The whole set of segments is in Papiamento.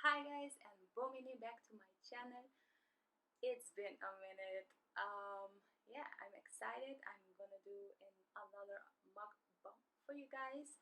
Hi guys and bon bini back to my channel it's been a minute um yeah I'm excited I'm gonna do another mukbang for you guys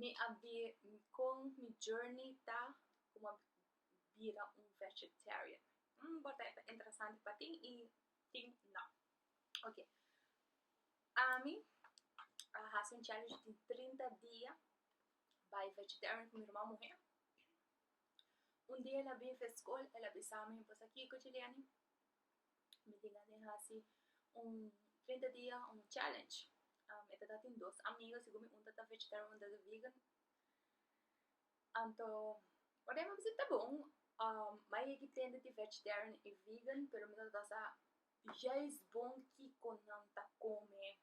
Mi a bir kon mi journey ta como a bira un vegetarian mm por ta e ta interesante pa tin y tin no okay ami a haci un challenge di trinta dia bai vegetarian cu mi herman muher un dia el a bin fe school el a bisa mi bosa kico Juliani Mi tin gana di hasi un trinta dia, un challenge. Um, e ta ta tin dos amiga, segun mi un ta ta vegetarian, un ta ta vegan. Anto, ora mi a bisa ta bon, um, mi a yegi tende di vegetarian i vegan, pero mi ta ta sa juist bon kiko nan ta come.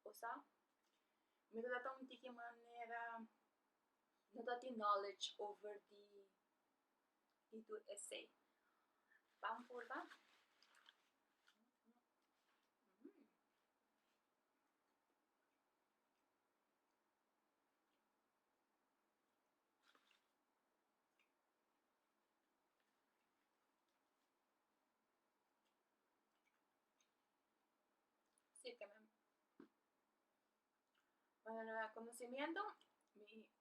Bo sa? Mi ta trata un tiki manera, no ta tin knowledge over di di tur esei. Ban purba. Para conocimiento,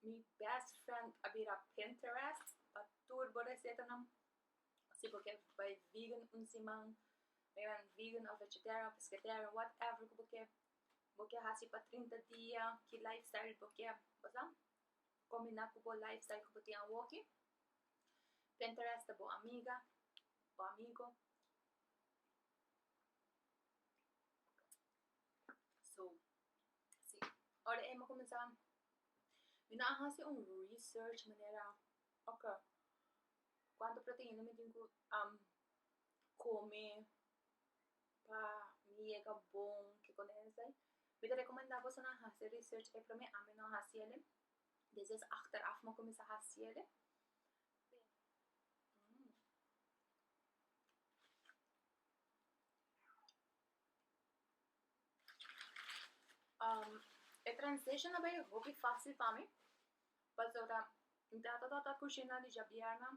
mi best friend a bira Pinterest pa tur bo recetanan, si bo kier bai vegan un siman, bira vegan of vegetarian, pescatarian, whatever ku bo kier, bo kier hasi pa trinta dia, ki life style bo kier, pasobra combina ku bo life style ku bo tin awoki, Pinterest ta bo amiga, bo amigo. So, si, ora e mi kuminsá, mi no a hasi un research manera, oke, kuantu proteína mi tin ku kume pa mi yega bon, kikosa esei. Mi ta rekomendá bosonan hasi research e promé, ami no a hasi ele, despues mi achteraf mi a kuminsá hasi ele. e transition a bay hopi facil pa mi pasobra mi ta tata ta cushina di djabièrna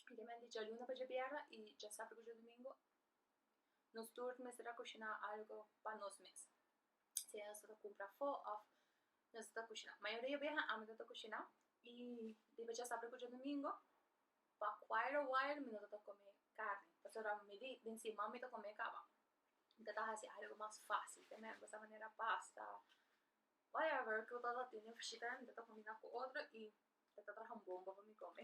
spesialmente djaluna pa djabièrna y djasabru cu djadumingu nos tur mester a cushina algo pa nos mes sea nos ta cumpra afo of nos ta cushina mayoria di biaha ami no ta cushina y riba djasabru cu djadumingu Pa quire a while mi no tabata come carni pasobra mi di den siman mi ta come caba mi ta hasi algo mas facil te mehor cosa manera pasta whatever cu tabata tene mi tabata combina cu otro y e ta traha un bomba pa mi come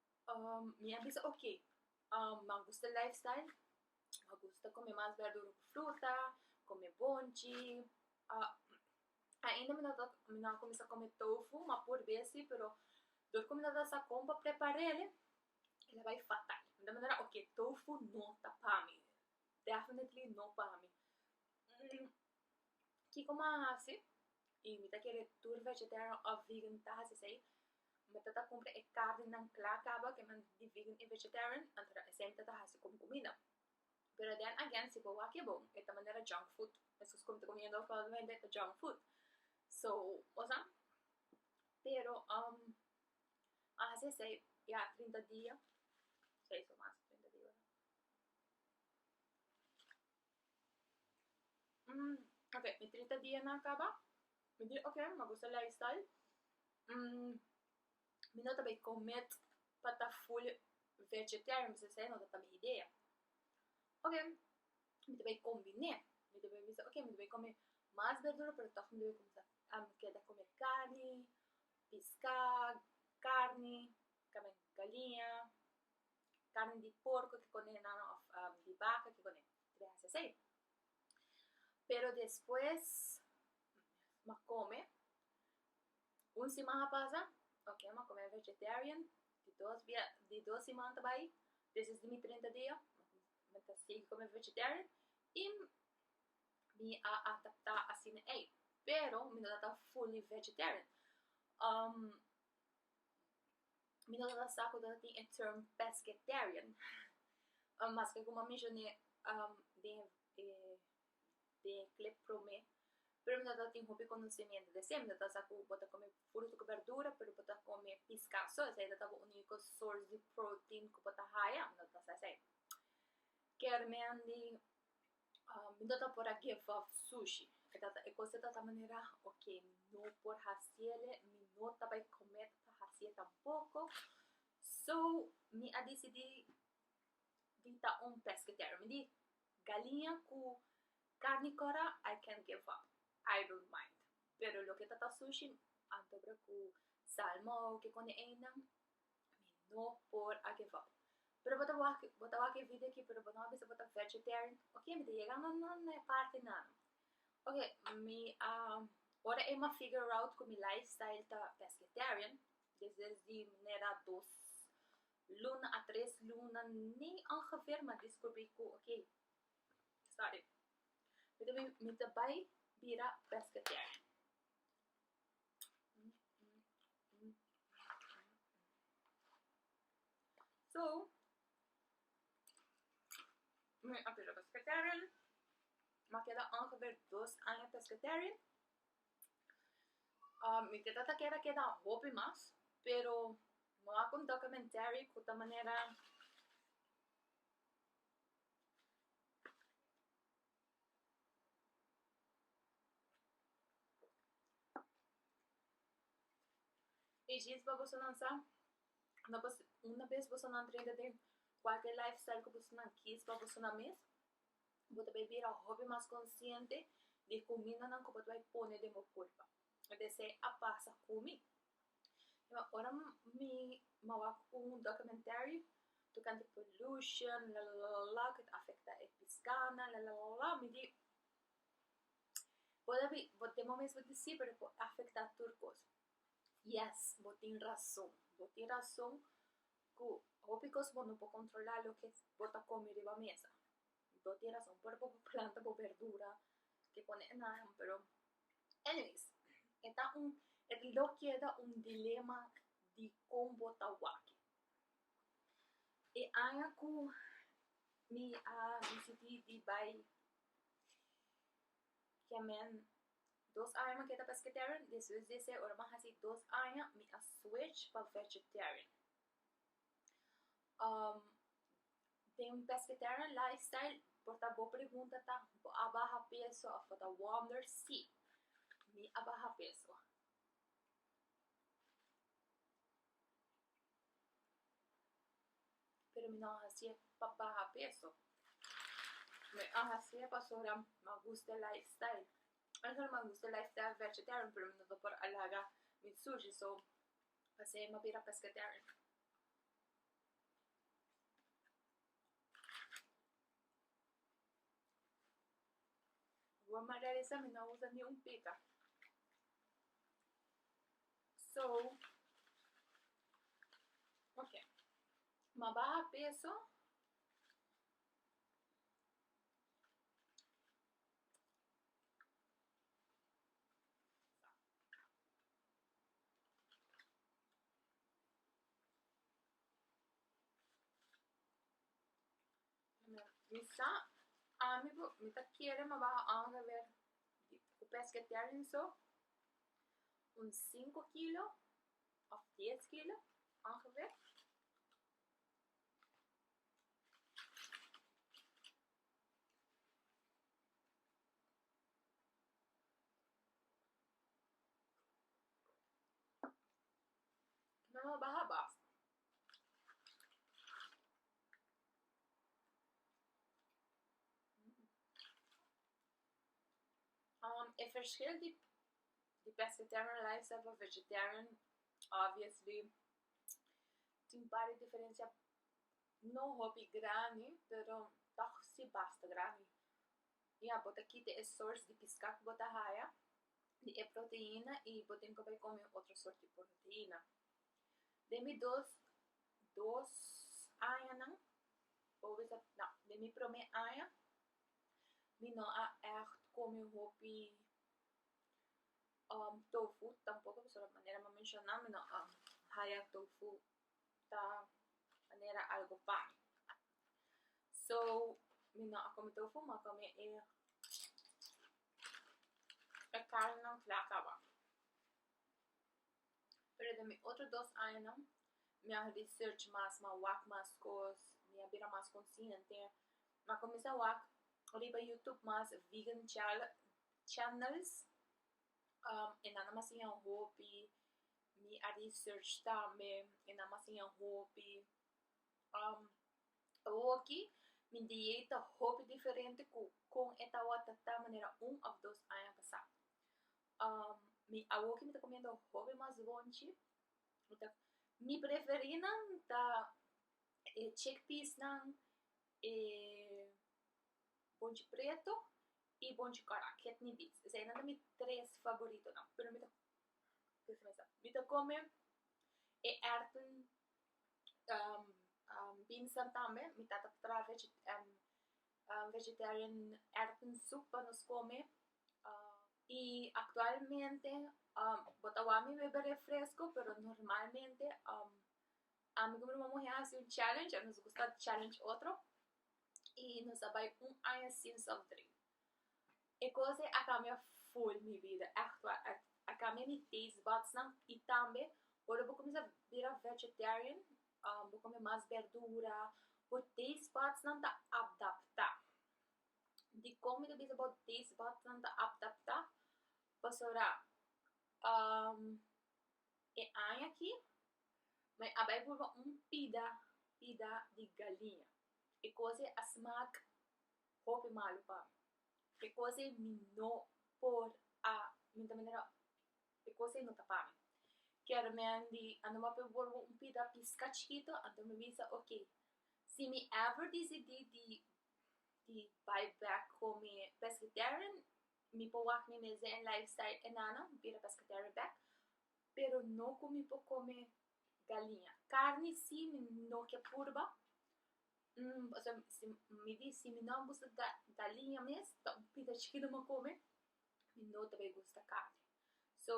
mi a bisa ok, mi a gusta lifestyle, mi a gusta come mas berdura cu fruta, come bonchi, ainda mi no ta mi no a cuminsa come tofu ma por besi pero dor cu mi no ta sa con pa prepar'el ela bai fatal, de manera ok tofu no ta pa mi, definitely no pa mi Kiko m'a hasi? I mi ta kere tur vegetarian òf vegan mi ta hasi esei, mi ta ta kumpra e karnenan kla kaba ken nan di vegan i vegetarian, anto dan esei mi ta ta hasi komo kumida, pero den again si bo wak e bon e ta manera junk food, esun komo mi ta kumiendo usualmente ta junk food, so bo sa, pero um m'a hasi esei ya trinta dia, si eso mas trinta dia. ok mi trita dia na a kaba mi di ok mi a gusta e life style mi no ta bay commit pa ta full vegetarian mi bisa esei no ta ta mi idea ok mi ta bay combine mi ta bay bisa ok mi ta bay come mas berdura pero toch mi ta bay cuminsa ami keda come carni piscad carni tambe galiña carne di porco ki conehenan of di baca ki conehe ta deha haci asey pero despues ma come un siman a pasa ok ma come vegetarian di dos bia di dos siman ta bai despues di mi trenta dia mi ta sigui come vegetarian y mi a adapta asina ey pero mi no ta fully vegetarian. mi no ta sa ku ta tin e term pescatarian, maske ku mi a menshoné den e den e klip promé, pero mi no ta tin hopi konosementu di esei, mi no ta sa ku bo ta kome fruta ku bèrdura pero bo ta kome piska so, esei ta tabata uniko sors di protein ku bo ta haya, mi no ta sa esei. Kermen di Mi no ta por a give up sushi, e ta ta e cos e ta ta manera ok no por haciele, mi no ta bay comet pa hacié tampoco, so mi a dicidi di ta un pescatarian, mi di galiña cu carni cora I can give up, I don't mind, pero loke ta ta sushi anto cu salmon kikune eynan Mi no por a gevao. Pero bo ta wak, bo ta wak e video aki pero bo no a bisa bo ta vegetarian. Ok, mi ta yega na na na e parti nan. Ok, mi a, ora Emma figure out ku mi lifestyle ta pescatarian, desde di manera dos luna a tres luna ni ongeveer mi a descubri ku ok, sorry, mi ta bai bira pescatarian. So, mi a pira pescatarian, mi a keda ongeveer dos aña pescatarian, um mi ta trata keda keda hopi mas, pero mi wak un documentary ku ta manera. E jis pa boso nan sa, no pa se una bes boso nan trenta den kualke lifestyle ku boso nan kiss pa boso nan mes, bo ta bai bira hopi mas konsiente di kumindanan ku bo ta bai pone den bo kurpa, desei a pasa ku mi. Ya, ora mi a wak un documentary tocante pollution lalala cu ta afecta e piscana lalala mi di por abi bo tin momen bo di si pero por afecta tur cos yes bo tin razon bo tin razon cu hopi cos bo no por controla loke bo ta come riba mesa. Anto tin rason por bo planta bo berdura ke pone e naran pero anyways e ta un e lo keda un dilema di kon bo ta wak e aña ku mi a disidi di bai kemen dos aña mi a keda pesketerin despues di ese ora mi a hasi dos aña mi a switch pa vegetarian Um, den un pescatarian lifestyle, por ta bo pregunta ta, bo a baha peso of bo ta wonder? Si, mi a baha peso. Pero mi no a hacié pa baha peso, mi a hacié pasobra m'a gusta e lifestyle. M'a gusta e lifestyle vegetarian pero mi no ta por alarga mi sushi, so. Pas'e m'a bira pescatarian. Bo m'a realisa mi no usa ni un pita. So, ok. M'a baha peso. Mi sa ami bo mi ta kere ma baha aun a ber di ku pesketear en so un sinku kilo òf dies kilo aun a ber Nan a baha bafo. Um e verschil di di pescatarian lifestyle pa vegetarian obviously tin par di diferencia no hopi grandi pero tog si basta grandi Ya, bo ta kita e sors di piská ku bo ta haya di e proteína i bo tin ku bai kome otro sort di proteína. Den mi dos dos añanan o bisa na den mi promé aña mi no a ègt kome hopi tofu, tampoko pasobra manera mi a menshona mi no a haya tofu ta manera algo pan. So, mi no a kometé un fuma kome e e karnenan fla kaba. Pero den mi otro dos añanan mi a research mas, mi a wak mas kos, mi a bira mas konsiente, mi a kuminsá wak riba yutub mas vegan channels, e nannan a siña hopi. Mi a research tambe e nama sin a hopi um awoki mi dieet ta hopi diferente cu con e tabata ta manera un of dos aña pasa um mi awoki mi ta comiendo hopi mas bonchi mi preferi nan ta e chickpeas nan e bonchi preto Y bon chico aran ketni beans esey nan ta mi tres favoritonan pero mi ta kiss mesa mi ta come e erten beans nan tambe mi tata ta traha vegetarian erten soup pa nos come y actualmente bo ta wak mi bebe refresco pero normalmente ami cu mi mama mohe a haci un challenge a nos gusta challenge otro y nos a bai un aña sin soft drink. E cos ei a cambia full mi bida, echt waar, a cambia mi taste buds nan y tambe ora bo cuminsa bira vegetarian, bo come mas berdura, bo taste buds nan ta adapta, dicon mi ta bisa bo taste buds nan ta adapta? Pasobra E aña aki mi a bai pruba un pida pida di galiña e cos ei a smak hopi malu pa mi e cos ei mi no por a mi ta manera e cos ei no ta pa mi kier mi a di a no bape pruba un pida pisca chikito anto mi bisa ok si mi ever disidi di di bai bek cu mi pescatarian Mi por wak mi mes den e lifestyle e nana, mi bira pescatarian bek, pero no cu mi por come galiña. Carni si, mi no ke purba, pasobra si mi di si mi no a gusta galiña mes, ta un pita chikito mi a come, mi no ta bay gusta carni. So,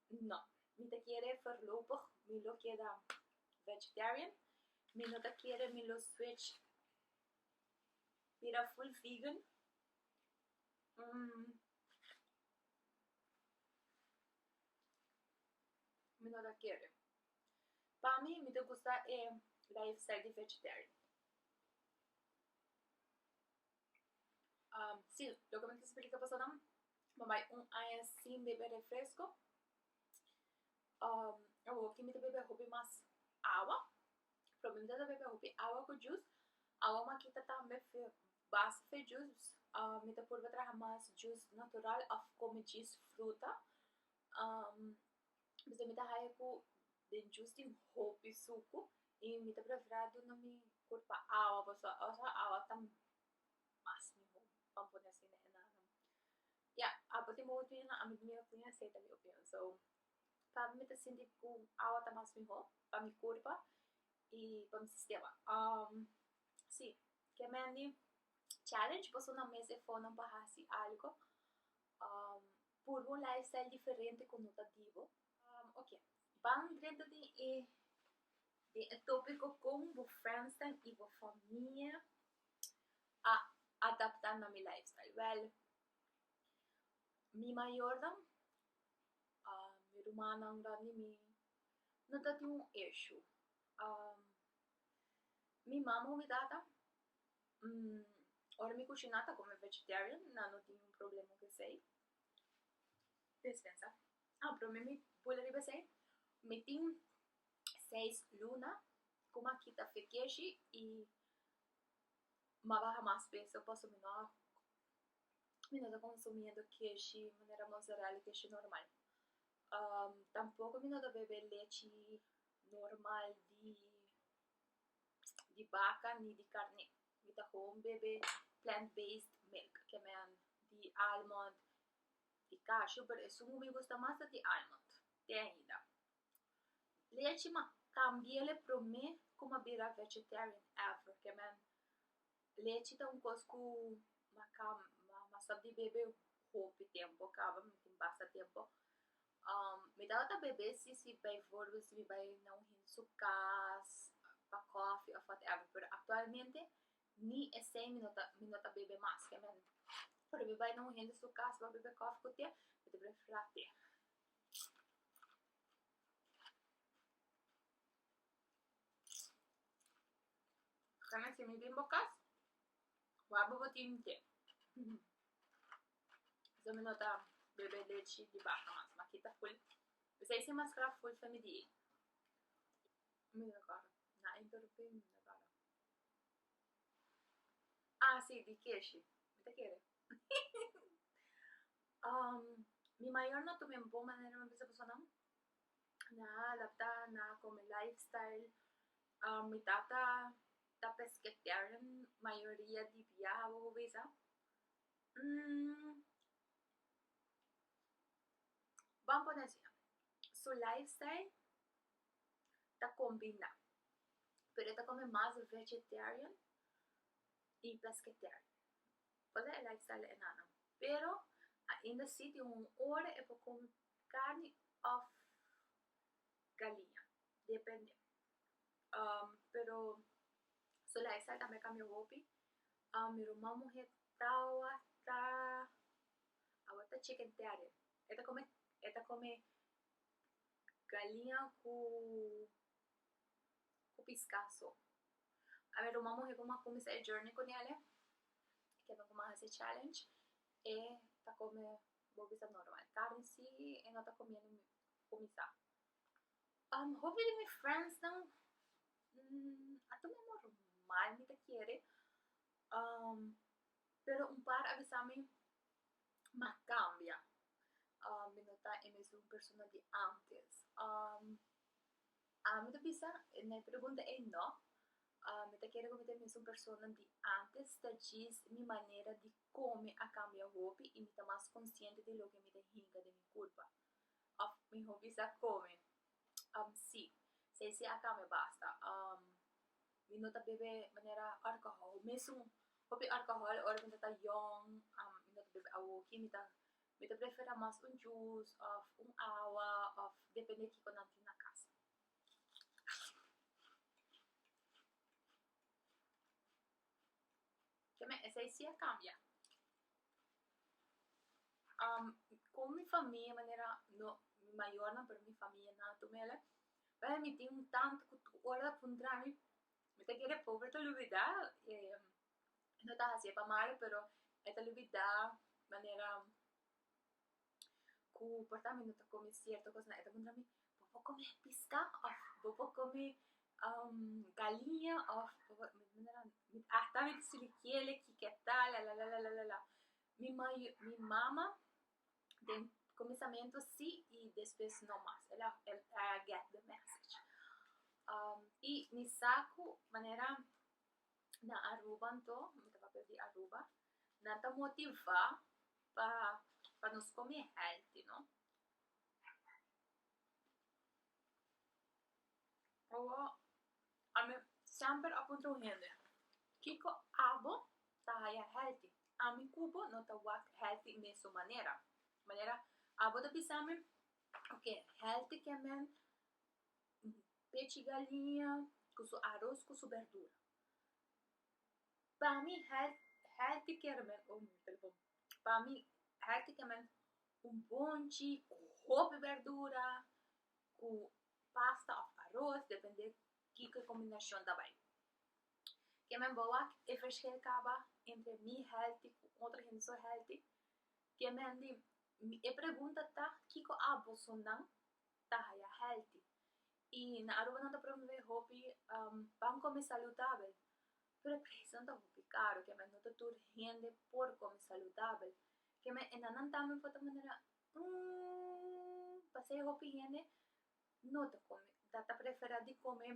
no, mi ta kere forlopig mi lo keda vegetarian, mi no ta kere mi lo switch bira full vegan. Um, mi no ta kere. Pa mi, mi ta gusta e lifestyle di vegetarian. Um, si, loke mi ta splika pasanan, mi bai un aña sin bebe refresco. Um, awoki mi ta bebe hopi mas awa. Pregunta ta beca hopi awa cu jus awa maki ta tambe fe base fe jus mi ta purba traha mas jus natural of come jus fruta p'esei mi ta haya cu den jus tin hopi sucu y mi ta prefera duna mi culpa awa pasobra also awa ta mas miho pa'an pone asin na enan ya apo tin bobo tin ami bini a pone aceite a mi opinion so. Tambe mi ta sinti ku awa ta mas mihó pa mi kurpa i pa mi sistema. Sí, ke mendi challenge pasobra mes efornan pa hasi algu, purba un lifestyle diferente ku no ta dibo. Oke, ban drenta den e den e topiko kon bo frensnan i bo famia a adapta na mi lifestyle. Wèl, mi mayornan mi rumannan grandi i mi no ta tin un eshu. mi mama o mi tata, ora mi kushina ta kome vegetarian, nan no tin un problema ku esei, dispensa, a pero mi mi bula riba esei, mi tin seis luna ku mi a kita fekeshi i mi a baha mas peso pasobra mi no a y nos a consumiendo keshi manera mozzarella y keshi normal tampoco mi no ta bebe lechi normal di baca ni di carne mi ta home bebe plant base milk ke men di almond y cashew pero esun mi gusta mas ta di almond te ainda lechi ma también le prome como a bira vegetarian ever ke men Lechi ta un kos ku maka masa di bebe hopi tempo kaba mi tin basta tempo mi tabata bebe si si bai vorbi si mi bai na un hende su kas pa kofi of whatever pero aktualmente ni esei mi no ta bebe mas skemen ora mi bai na un hende su kas pa bebe kofi ku te mi ta prefera te. Kan a si mi bin bo kas, wak bo bo tin te. Esei mi no ta bebe lechi di baka mas, ma kita ful. Esei si maskra ful ta mi di. Mi ta kòrda, na interumpí mi, mi ta kòrda. Ah si, di keshi, mi ta kere. mi mayor no tuma mi bo manera mi bisa bosonan. na adapta na come lifestyle. Um mi tata ta pescatarian mayoria di bia bo bo bisa. Mm, ban pone así, su lifestyle ta combina, pero e ta come mas vegetarian y pescatarian. Pasobra e lifestyle e nan nan. Pero ainda así tin un ora e por come Carni of galiña, depende. Pero so la esaki tambe cambia hopi. Mi ruman muhe tawata, awata chicken terrier. E ta come, e ta come galiña cu, cu pisca so. Mi ruman muhe como a cuminsa e journey cu nele, e kende como a hasi e challenge, e ta come Bo bisa normal. Carne si e no ta comiendo mi cuminsa. Um, hopi di mi friendsnan mm, a tuma normal mi ta kere. Um, pero un par a bisa mi, m'a cambia. Um, mi no ta e mesun persona di antes. Um, ami ta bisa, na e pregunta ei no. Um, mi ta kere cu mi ta e mesun persona di antes, ta djis mi manera di Kon mi a kambia hopi i mi ta mas konsiente di loke mi ta hinka den mi kulpa? Òf mihó bisa kome, Am si. Sei si a kambia basta. Am mi no ta bebe manera alkohòl. Mesun hopi alkohòl ora mi ta ta yòn, am mi no ta bebe awoki. Mi ta mi ta prefera mas un jus òf un awa òf depende kiko nan tin na kasa. Ke me esei si a kambia. Um kon mi famia manera no mi mayornan pero mi famia na tu mele bai mi tin un tante ku tur ora a puntra mi mi ta kere pobre ta lubida e no ta hasi e pa malo pero e ta lubida manera ku por ta mi no ta komi sierto kosnan e ta puntra mi bo por komi piska of bo por komi galiña of bo por mi ta puntra nan mi asta mi ta studia kiere ki ke ta lalalalalala mi mayo mi mama den kuminsamentu si i despues no mas el a el a get de message i mi sa ku manera na Aruba anto mi tabata di Aruba nan ta motiva pa pa nos come healthy no owo ami semper a puntra un hende kiko abo ta haya healthy ami cubo no ta wak healthy mesun manera manera abo ta bisami oke healthy ke men pechi galinha cu su aroz cu su berdura Pa mi health healthy care men oh mi telefon pa mi healthy care men un bonchi ku hopi berdura ku pasta òf aros depende kiko kombinashon ta bai ke men bo wak e fresheri kaba entre mi healthy ku otro hende so healthy ke men di e pregunta ta kiko a boso nan ta haya healthy I na Aruba nan ta promové hopi pan kome salutabel, pero e presnan ta hopi karu keme no ta tur hende por kome salutabel, keme e nannan tambe for ta manera umm pasei hopi hende no ta kome ta ta preferá di kome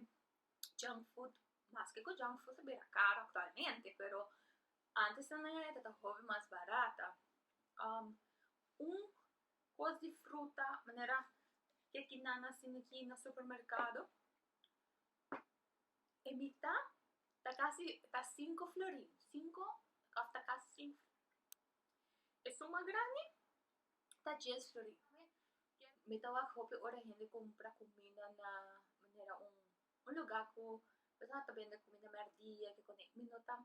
junk food maske ku junk food a bira karu aktualmente pero antes nan nan e ta ta hopi mas barata un. Kos di fruta manera ke ki nan a sin aki na supermerkado e mita ta kasi ta sinku flori sinku òf ta kasi sink esun mas grandi ta dies flori mi ta wak hopi ora hende compra comida na manera un luga ku persona ta bende comida merdia kikumi mi no ta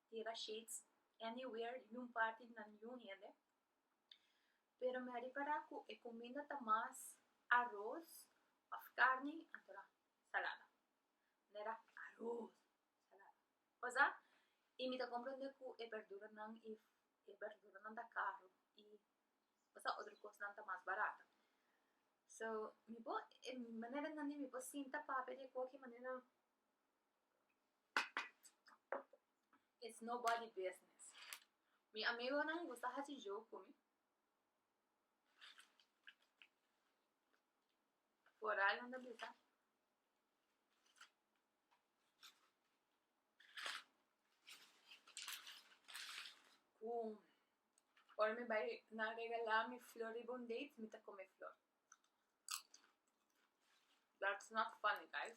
tira shades anywhere ningún parti na ningún hende. Pero mi a ripará ku e kuminda ta mas aros òf karni anto na salada. Mi a dá aros, salada, pasá i mi ta komprendé ku e bèrduranan i e bèrduranan ta karu i pasá otro kosnan ta mas barat. So, mi por e manera nan mi por sinta papia di e koki manera. It's nobody business. Mi amigonan gusta haci joke cu mi. Por raro nan ta bisa. Cu ora mi bai na regala mi flor riba un date, mi ta come flor. That's not funny, guys.